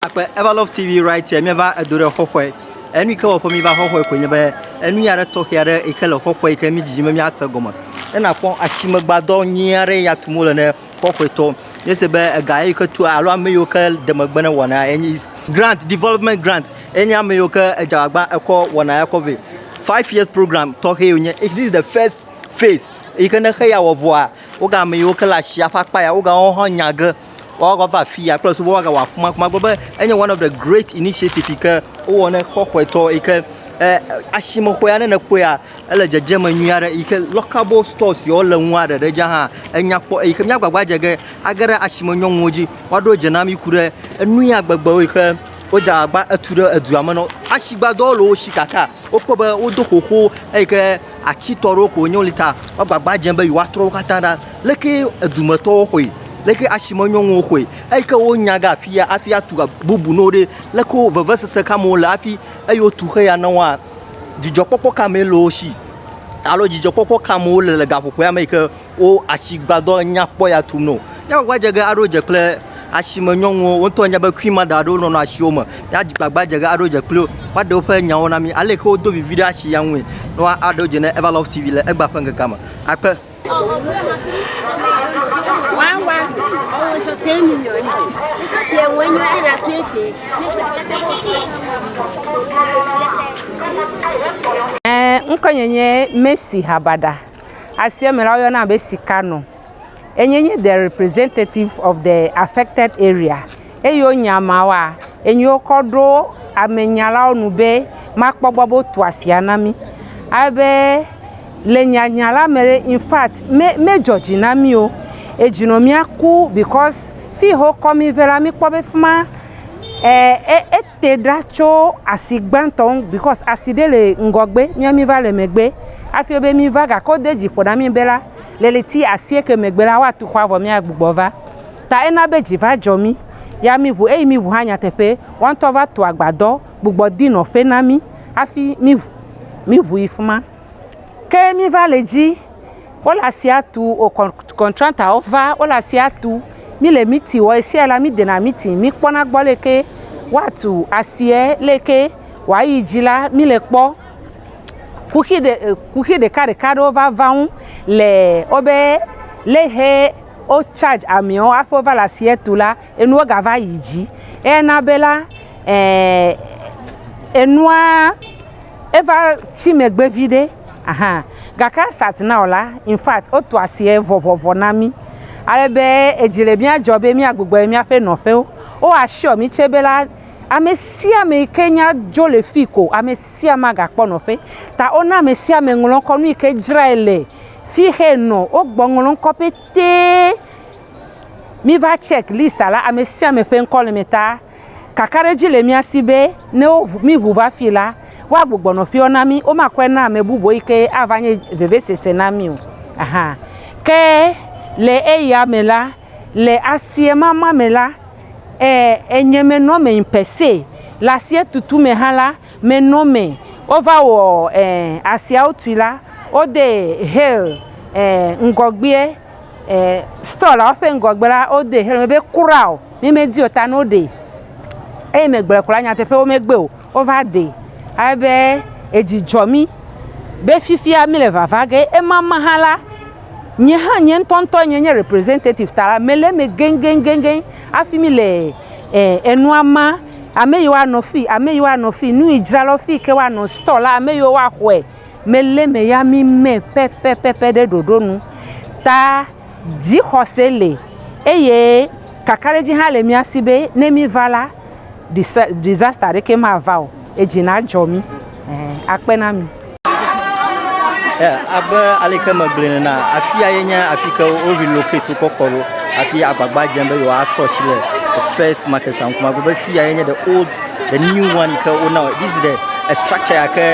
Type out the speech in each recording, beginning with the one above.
Akpe Everlove TV right here míeva edo ɖe xɔxɔe enu yike wɔƒe míva xɔxɔe koe nye be enu ya ɖe tɔxɛ aɖe yike le xɔxɔe yike mi dzidzim be míase gɔme ne nakpɔ asimegbadɔ nyui aɖe ya tum wole ne xɔxɔetɔ míese be ega yike tu alo ame yiwo ke de megbe ne wɔna enye grant development grant enye ame yiwo ke edzawagba ekɔ wɔna ya kɔ vɛ five year program tɔxɛ yonye if this is the first phase yike ne xe ya wɔ vɔa woga ame yiwo ke le asia ƒe akpa ya woga wohã nya ge Woawo kɔ va afi ya kple susu be woagawɔ afi ma kuma. Agblɔ be enye one of the great initiative yi ke wowɔ ne kɔƒetɔ yi ke eh, asimeƒea ne nèkpɔea ele dzedzeme nyui aɖe yi ke lockable stores yewo le ŋu aɖe ɖe dza hã enya kpɔ eyi ke míagbagba dze ge age ɖe asime nyɔnuwo dzi woaɖo dze na mí ku ɖe enu ya gbegbewo yi ke wodze agbagba etu ɖe edua me nɔ asigbadɔwo le wo si kaka wokpɔ be wodo xoxo eyi ke Atsi tɔ ɖewo ko wonye woli ta wo agbagba dzem be yewoa trɔ wo katã ɖa. Leke edume tɔwo xɔe? Leke asime nyɔnuwo xɔe? Eyi ke wo nya ge afia afi atu bubu ne wo ɖe, leke wo veve sese ka me wole afi eyi wo tu xe ya ne woa? Dzidzɔ kpɔkpɔ ka me le wo si alo dzidzɔ kpɔkpɔ ka me wole le gaƒoƒoea me yi ke wo asigbadɔ nyakpɔ ya tum no. Ne wòva dze ge aɖo dze kple asime nyɔnuwo, wo ŋutɔ anya be Queen Mother aɖewo nɔ nɔ asiwo me. Ya dzi gbagba dze ge aɖo dze kpli wo. Woaɖe woƒe nyawo na mí. Ale ke wodo vivi ɖe asi ya ŋue. Ne woa aɖo dze ne Eva Love TV le egba ƒe ŋkekea me. Akpe. One was always a ten million. Yeah, when you are at twenty. Ŋkɔ nye nye Messi Habada. Asia me la, woyɔna be sikanɔ. Enye nye de representative of de affected area eye wonye ameawoa, enye wokɔ ɖo amenyalwo nu be makpɔ gbɔ be wotu asia na mí. Ale be le nyanya la me ɖe, infact me medzɔ dzi na mí o. Edzi nɔ mía ku because fii he wokɔ mí vɛ la, míkpɔ be fi ma e e e. Te ɖa tso asi gbãtɔ ŋu bikɔs asi ɖe le ŋgɔgbe mía mí va le megbe hafi wobe mí va gake wode dzi ƒo na mí be la le ɣleti asieke megbe la woatu xɔa vɔ míagbugbɔ va ta ena be dzi va dzɔ mí ya mí ŋu eyi mí ŋu hã nyateƒe woa ŋutɔ va tu agbadɔ gbugbɔ di nɔƒe na mí hafi mí mí ŋu yi fi ma. ke míva le dzi wole asia tum wò kɔntratɔwo va wole asia tum míle miti wɔm ɣesiaɣi la mídena miti míkpɔna gbɔ ale yike woatu asia ale yike woayi dzi la míle kpɔm kuxi kuxi ɖekaɖeka aɖewo va va wo ŋu le wobe leke wo charge ameawo hafi wova le asia tum la enua gava yi dzi eye na be la enuaa. eva tsi megbe viɖe ahan gake as at now la infact wotu asie vɔvɔvɔ na mí ale be edzi le mía dzɔ be míagbugbɔ yi míaƒe nɔƒewo. Wo assure mí tsɛ be la, amesiame yi ke nya dzo le fii ko amesiame agakpɔ nɔƒe. Ta wona amesiame ŋlɔ ŋkɔ nu yi ke dzrae le fi yi ke enɔ. Wogbɔ ŋlɔ ŋkɔ petɛ. Míva check list la amesiame ƒe ŋkɔ le eme ta. Kakaɖedzi le mía si be ne woŋu mí ŋu va fii la, woagbugbɔ nɔ ƒeawo na mí, womakɔe na ame bubu eyi ke ava nye vevesese na mí o. Aha. Ke le eya me la, le asiemama me la, e, enye menɔ eme per se. Le asietutu me hã la, menɔ eme. Wova wɔ e, asiawo tui la, wode Hale e, ŋgɔgbea. store la ƒe ŋgɔgbe la wode xexlẽme la be crown ne medi o ta ne woɖee eye megblɔe ko la nyateƒe womegbe o wova ɖee ale be edzi dzɔ mí be fifia míle vava ge ema me hã la nye hã nye ŋutɔŋutɔ nye nye representative ta la mele eme geŋgeŋgeŋ hafi míle e enua ma ame yi woanɔ fii ame yi woanɔ fii nu yi dzrala fi yi ke woanɔ store la ame yi woaxɔe. Mele me ya mi me pɛpɛpɛpɛ ɖe ɖoɖo nu ta dzixɔse le eye kakaɖedzi hã le mía si be ne míva la, disa disaster aɖeke mava o. Edzi nadzɔ mí. Ɛɛ akpe na mi. Yeah, abe aleke megblɔe nena, afia ye nye afi ke wo relocate wokɔ kɔ ɖo hafi agbagba dzem be yewoatrɔ asi le first market ŋkume. Agblɔ be fiya ye nye the old The new one ke wo now this is the a structure ya ke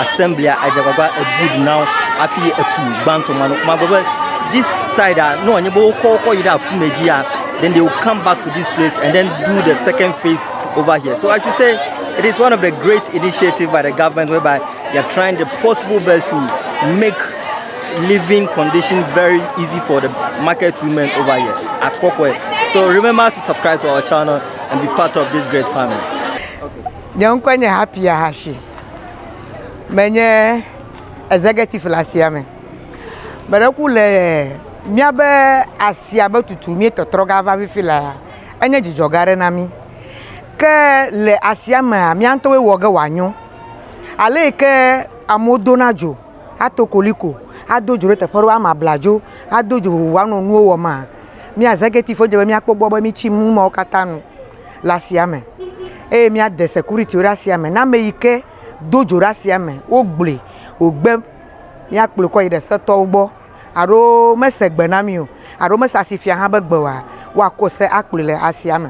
assembly edze agbagba ebuild now hafi etu gbãtɔ ma no kuma gbe be this side a ne wòanye be wokɔ wokɔ yi ɖe afi me dzi ya then they will come back to this place and then do the second phase over here so i should say it is one of the great initiative by the government whereby they are trying the possible best to make living condition very easy for the market women over here at Kokwe. So remember to subscribe to our channel. and be part of this great family. Nye ŋkɔe nye Happy Ahashi. Menye executive le asia me. Meɖe ku le míabe asia be tutu míetɔtrɔ ga va fifi lea, enye dzidzɔ gã aɖe na mí. Ke le asia mea, mía ŋutɔwoe wɔ ge wòanyo. Ale yi ke amewo dona dzo ato koliko, ado dzo ɖe teƒe aɖewo, ame abladzo ado dzo vovovo anɔ nuwo wɔm maa, Mía executive dze be míakpɔ gbɔ be mítsi nu mawo katã nu le asia me eye míade security-wo ɖe asia me. Ne ame yi ke do dzo ɖe asia me, wogblɔe wògbe míakplɔe kɔ yi ɖe setɔwo gbɔ alo mese gbe na mí o alo mese asi fia hã be gbe oa, woakɔ se akplɔe le asia me.